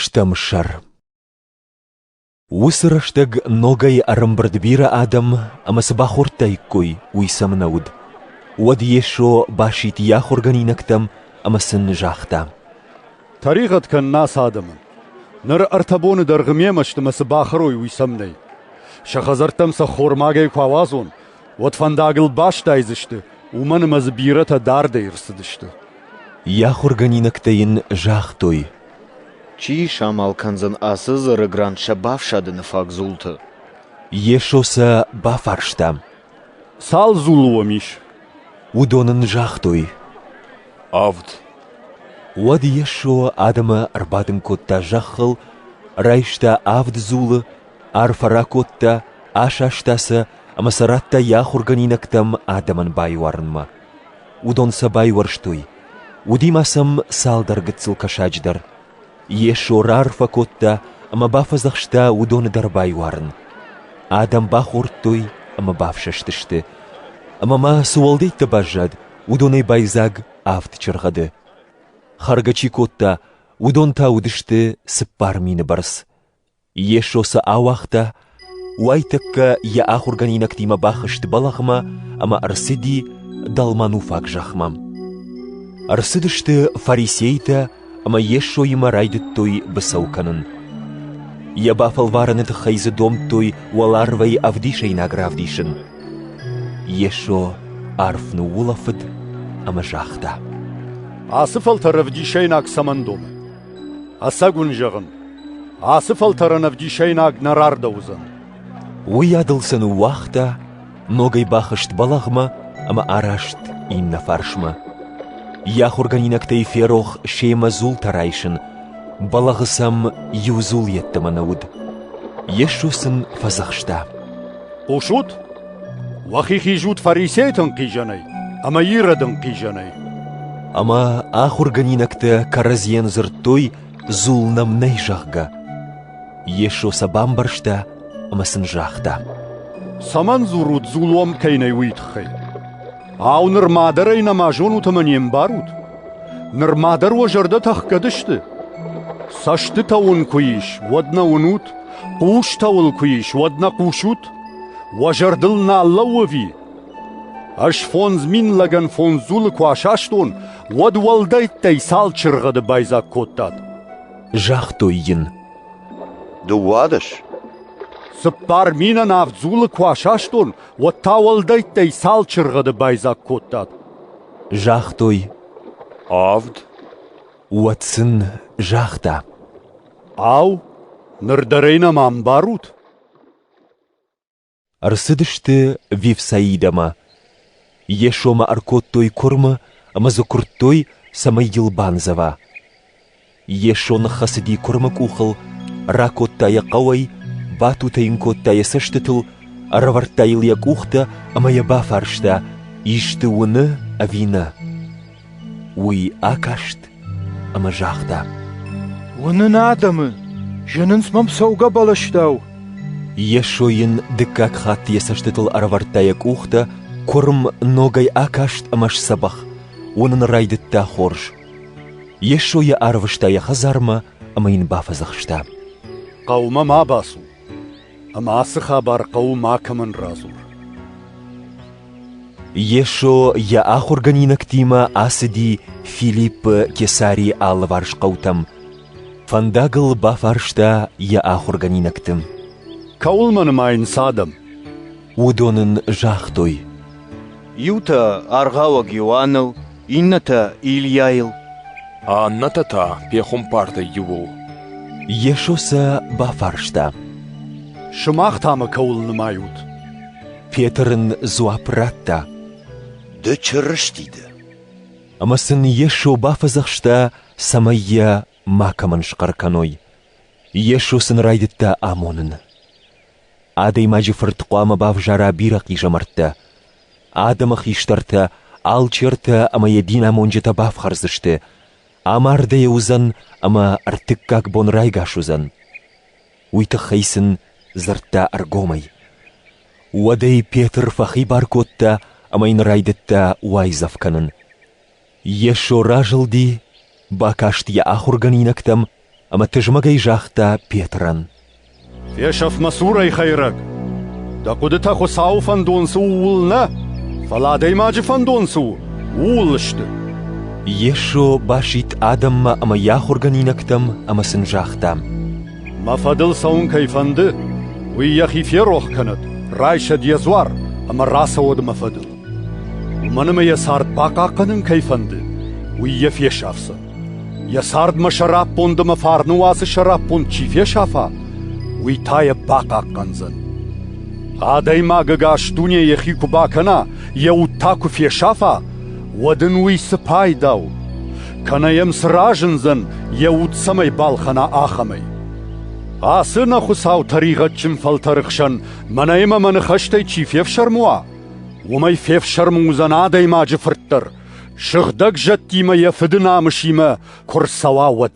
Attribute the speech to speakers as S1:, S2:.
S1: Стӕм сӕр. Уыцы рӕстӕг ногӕй ӕрӕмбырд бирӕ адӕм ӕмӕ цы бахордтаиккой, уый сӕм нӕ уыд. Уӕд Йесо басидт йӕ ахуыргӕнинӕгтӕм ӕмӕ сын загъта: «Тӕригъӕд
S2: кӕн нӕ цы адӕмы! Ныр ӕртӕ боны дӕргъы мемӕ сты мӕ цы бахӕрой, уый сӕм нӕй. Сӕ хӕдзӕрттӕм сӕ ххормагӕй куы ауадзон, уӕд фӕндагыл бастайдзысты, уымӕн ӕмӕ дзы бирӕтӕ дардӕй ӕрцыдысты. Йӕ ахуыргӕнинӕгтӕ
S1: йын загътой: Чи
S3: самал кӕндзӕн ацы дзыры грант сӕ бафсадыны фаг дзулты? Йесо
S1: сӕ бафарста: Цал
S2: дзулы уӕм ис? Уыдон
S1: ын загътой: Авд. Уӕд Йесо адӕмы ӕрбадын кодта зӕххыл, райста авд дзулы, арфӕ ракодта, асаста сӕ ӕмӕ сӕ радта йӕ ахуыргӕнинӕгтӕм адӕмӕн байуарынмӕ. Уыдон сӕ байуӕрстой. Уыди ма сӕм цалдӕр гыццыл кӕсаджы дӕр. Йесо раарфӕ кодта ӕмӕ бафӕдзӕхста уыдоны дӕр байуарын. Адӕм бахордтой ӕмӕ бафсӕстысты. Ӕмӕ ма цы уӕлдӕйттӕ баззад, уыдонӕй байдзаг авд чыргъӕды. Хӕргӕ чи кодта, уыдон та уыдысты цыппар мины бӕрц. Йесо сӕ ауагъта, уайтӕккӕ Йӕ ахуыргӕнинӕгтимӕ бахызт бӕлӕгъмӕ ӕмӕ ӕрцыди Далмануфаг зӕхмӕ. Ӕрцыдысты фарисейтӕ ӕмӕ Йесоимӕ райдыдтой быцӕу кӕнын. Йӕ бафӕлварӕны тыххӕй дзы домдтой уӕларвӕй ӕвдисӕйнаг равдисын. Йесо арф ныуулӕфыд ӕмӕ загъта: «Ацы
S2: фӕлтӕр ӕвдисӕйнаг цӕмӕн домы?» Ӕцӕг уын зӕгъын, ацы фӕлтӕрӕн ӕвдисӕйнаг нӕ рардӕуыдзӕн. Уыйадыл
S1: сӕ ныууагъта, ногӕй бахызт бӕлӕгъмӕ ӕмӕ араст иннӕ фарсмӕ. Йӕ ахуыргӕнинӕгтӕй ферох семӕ дзултӕ райсын, бӕлӕгъы сӕм иу дзул йеддӕмӕ нӕ уыд. Йесо сын фӕдзӕхста. Хъусут?
S2: Уӕхи хизут фарисейтӕн хъизӕнӕй ӕма Иродӕн хъизӕнӕй. Ӕма
S1: ахургӕнинӕгтӕ кӕрӕдзийӕн дзурдтой, дзул нӕм нӕй, зӕгъгӕ. Йесо сӕ бамбӕрста ӕма сын загъта. Цӕмӕн
S2: дзорут, дзул уӕм кӕй нӕй, уый тыххӕй? Ау, нырма дӕр ӕй нӕма зонут ӕмӕ не мбарут? Нырма дӕр уӕ зӕрдӕ тӕхгӕд сты? Цӕстытӕ уын куы ис, уӕд нӕ уынут, хъустӕ уыл куы ис, уӕд нӕ хъусут? Уӕ зӕрдыл нал лӕууӕви? Ӕз фондз мин лӕгӕн фондз дзулы куы асастон, уӕд уӕлдӕйттӕй цал чыргъӕды байдзаг кодтат? Загътой
S1: йын.
S3: Дыууадӕс.
S2: Цыппар минӕн авд дзулы куы асастон, уӕд та уӕлдӕйттӕй цал чыргъӕды байдзаг кодтат? Загътой. Авд. Уӕд
S1: сын загъта. Ау,
S2: ныр дӕр ӕй нӕма ӕмбарут?
S1: Ӕрцыдысты Вифсаидӕмӕ. Йесомӕ ӕркодтой куырмы ӕмӕ дзы куырдтой, цӕмӕй йыл бандзӕва. Йесо ныххӕцыди куырмы къухыл, ракодта йӕ хъӕуӕй, батутӕ йын кодта йӕ цӕстытыл, ӕрӕвӕрдта йыл йӕ къухтӕ ӕмӕ йӕ бафарста, исты уыны ӕви нӕ. Уый акаст ӕмӕ загъта: «Уынын
S4: адӕмы, зынынц мӕм цӕугӕ бӕлӕстау». Йесо
S1: йын дыккаг хатт йӕ цӕстытыл ӕрӕвӕрдта йӕ къухтӕ, куырм ногӕй акаст ӕмӕ сдзӕбӕх, уынын райдыдта хорз. Йесо йӕ арвыста йӕ хӕдзармӕ ӕмӕ йын бафӕдзӕхста. «Хъӕумӕ
S2: ма бацу, ӕмӕ ацы хабар хъӕуы макӕмӕн радзур».
S1: Йесо йӕ ахуыргӕнинӕгтимӕ ацыди Филиппы Кесарийы алыварс хъӕутӕм. Фӕндагыл бафарста йӕ ахуыргӕнинӕгты. «Кӕуылмӕ
S2: нымайынц адӕм?» Уыдон
S1: ын загътой. «Иутӕ
S3: аргъауӕг Иоанныл, иннӕтӕ Ильяйыл. Аннӕтӕ
S5: та пехуымпартӕй иуыл. Йесо
S1: сӕ бафарста.
S2: Сымах та мӕ кӕуыл нымайут? Петр
S1: ын дзуапп радта. Ды
S3: Чырысти дӕ. Ӕмӕ
S1: сын Йесо бафӕдзӕхста, цӕмӕй йӕ макӕмӕн схъӕр кӕной. Йесо сын райдыдта амонын. Адӕймаджы фырт хъуамӕ бавзара бирӕ хъизӕмӕрттӕ. Адӕмы хистӕртӕ алчертӕ ӕмӕ йӕ динамонджытӕ бафхӕрдзысты, амардӕй уыдзӕн ӕмӕ ӕртыккаг бон райгас уыдзӕн. Уый тыххӕй сын дзырдта ӕргомӕй. Уӕдӕй Петр фӕхибар кодта ӕмӕ йын райдыдта уайдзӕф кӕнын. Йесо разылди, бакаст йӕ ахуыргӕнинӕгтӕм ӕмӕ тызмӕгӕй загъта Петрӕн. «Фесӕф
S2: мӕ цурӕй, Хӕйрӕг! Дӕ хъуыдытӕ Хуыцауы фӕндон цы ууыл нӕ, фӕлӕ адӕймаджы фӕндон цы у, ууыл сты!»
S1: Йесо басидт адӕммӕ ӕмӕ йӕ ахуыргӕнинӕгтӕм ӕмӕ сын загъта. «Мӕ
S2: фӕдыл цӕуын кӕй фӕнды, уый йӕхи ферох кӕнӕд, райсӕд йӕ дзуар ӕмӕ рацӕуӕд мӕ фӕдыл. Уымӕн ӕмӕ йӕ цард бахъахъхъӕнын кӕй фӕнды, уый йӕ фесафдзӕн. Йӕ цардмӕ сӕраппонд ӕмӕ фарны уацы сӕраппонд чи фесафа, уый та йӕ бахъахъхъӕндзӕн. Адӕймаг ӕгас дуне йӕхи куы бакӕна, йӕ уд та куы фесафа, уӕд ын уый цы пайда у? Кӕнӕ йӕм цы разындзӕн, йӕ уд цӕмӕй балхӕна, ахӕмӕй? Ацы нӕ Хуыцау тӕригъӕдджын фӕлтӕры хсӕн мӕнӕ ӕмӕ мӕ ныхӕстӕй чи фефсӕрмы уа, Уымӕй фефсӕрмы уыдзӕн адӕймаджы фырт дӕр, сыгъдӕг зӕдтимӕ йӕ фыды намысимӕ куы рцӕуа, уӕд.